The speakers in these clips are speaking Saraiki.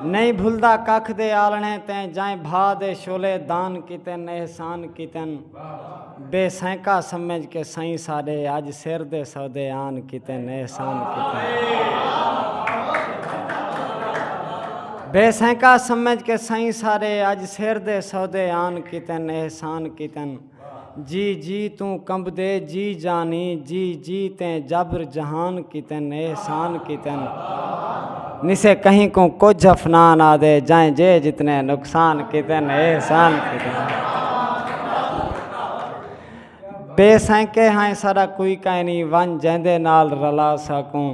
نئیں بھلدا ککھ دے آلݨے تیں جئیں بھا دے شعلے دان کیتن احسان کیتن بے سینکا سمجھ کے سئیں ساݙے اڄ سر دے سودے آن کیتن احسان کیتن بے سینکا سمجھ کے سئیں ساݙے اڄ سر دے سودے آن کیتن احسان کیتن۔ جی جی توں کمبدے جی جانی جی جی تیں جابر جہان کیتن احسان کیتن نسے کہیں کوں کجھ افنان آدے جائیں جے جتنے نقصان کیتن احسان کیتن بے سینکے ہائیں سارا کوئی کائنی ون جیندے نال رلا ساکوں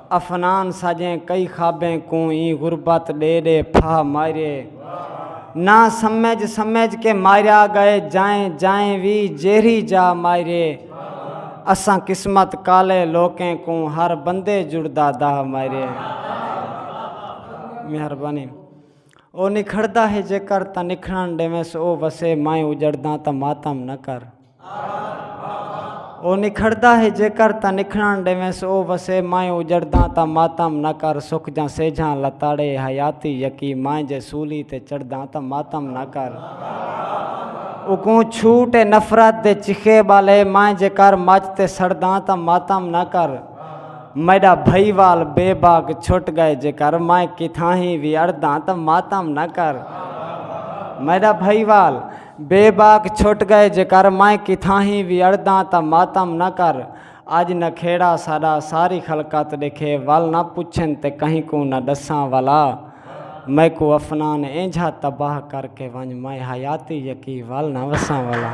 افنان ساجیں کئی خوابیں کوں ایں غربت ڈے ڈے پھاہ ماریے نہ سمجھ سمجھ کے ماریا گئے جائیں جائیں وی جیرھی جا ماریے اساں قسمت کالے لوکیں کوں ہر بندے جڑدا داہ ماریے مہربانی او نکھڑدا ہے جیکر تاں نکھڑن ڈیویس او وسے مائیں اجڑداں تاں ماتم نہ کر او نکھڑدا ہے جیکر تاں نکھڑݨ ݙیوینس او وسے مائیں اجڑداں تاں ماتم نہ کر سک جاں سیجھاں لتاڑے حیاتی یکی مائیں جے سولی تے چڑھداں تاں ماتم نہ کر اوکوں چھوٹ اے نفرت دے چخے ٻالے مائیں جے کر مچ تے سڑداں تاں ماتم نہ کر میݙا بھئی وال بے باک چھٹ ڳئے جیکر مائیں کتھاہیں وی اڑداں تاں ماتم نہ کر میݙا بھئی وال بے باک چھٹ گئے جیکر میں کتھاہیں وی اڑداں تاں ماتم نہ کر اج نکھیڑا ساڈا ساری خلقت ڈیکھے ول نہ پچھن تے کہیں کوں نہ ڈساں ولا میکوں افنان اینجھا تباہ کر کے ونج میں حیاتی یکی ول نہ وساں ولا۔